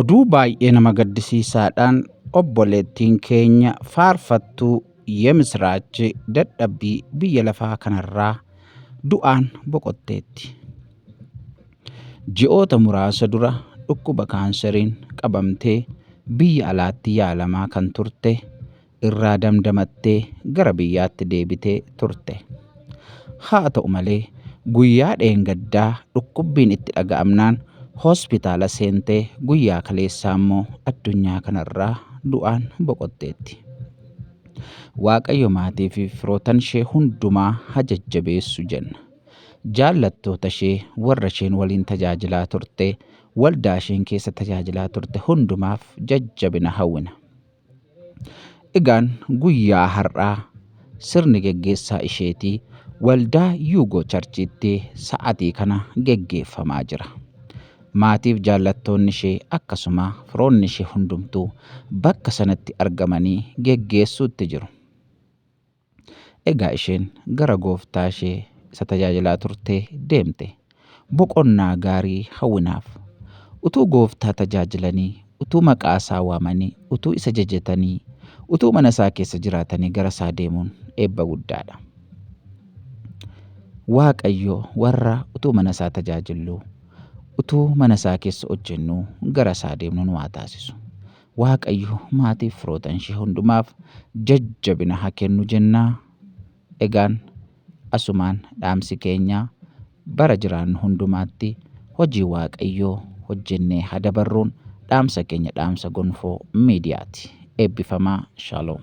Oduu baay'ee nama gaddisiisaadhaan obboleettiin keenya faarfattuu Yemisiraachi dadhabbii biyya lafaa kanarraa du'aan boqotteetti. Ji'oota muraasa dura dhukkuba kaanseriin qabamtee biyya alaatti yaalamaa kan turte irraa damdamattee gara biyyaatti deebitee turte. Haa ta'u malee guyyaa dheengaddaa dhukkubbiin itti dhaga'amnaan hospitaala seentee guyyaa kaleessaa immoo addunyaa kanarraa du'aan boqotteetti. Waaqayyo maatii fi firootan ishee hundumaa ha jajjabeessu jenna. Jaallattoota ishee warra isheen waliin tajaajilaa turte, waldaa isheen keessa tajaajilaa turte hundumaaf jajjabina hawwina. Egaan guyyaa har'aa sirni geggeessaa isheetii waldaa Yuugoo Charchiitti sa'atii kana geggeeffamaa jira. Maatiif jaallattoonni ishee akkasuma firoonni ishee hundumtuu bakka sanatti argamanii geggeessuutti jiru. Egaa isheen gara gooftaa ishee isa tajaajilaa turtee deemte. Boqonnaa gaarii hawwinaaf. Utuu gooftaa tajaajilanii, utuu maqaa isaa waamanii, utuu isa jajatanii, utuu mana isaa keessa jiraatanii gara isaa deemuun eebba guddaadha. Waaqayyo warra utuu mana isaa tajaajilluu, utuu mana isaa keessa hojjennuu gara isaa deemnu nu haa taasisu. Waaqayyo maatiif firootan ishee hundumaaf jajjabina ha kennu jenna. Egaan asumaan dhaamsi keenya bara jiraannu hundumaatti hojii Waaqayyoo hojjennee ha dabarruun dhaamsa keenya dhaamsa gonfoo miidiyaati. Eebbifamaa Shalom.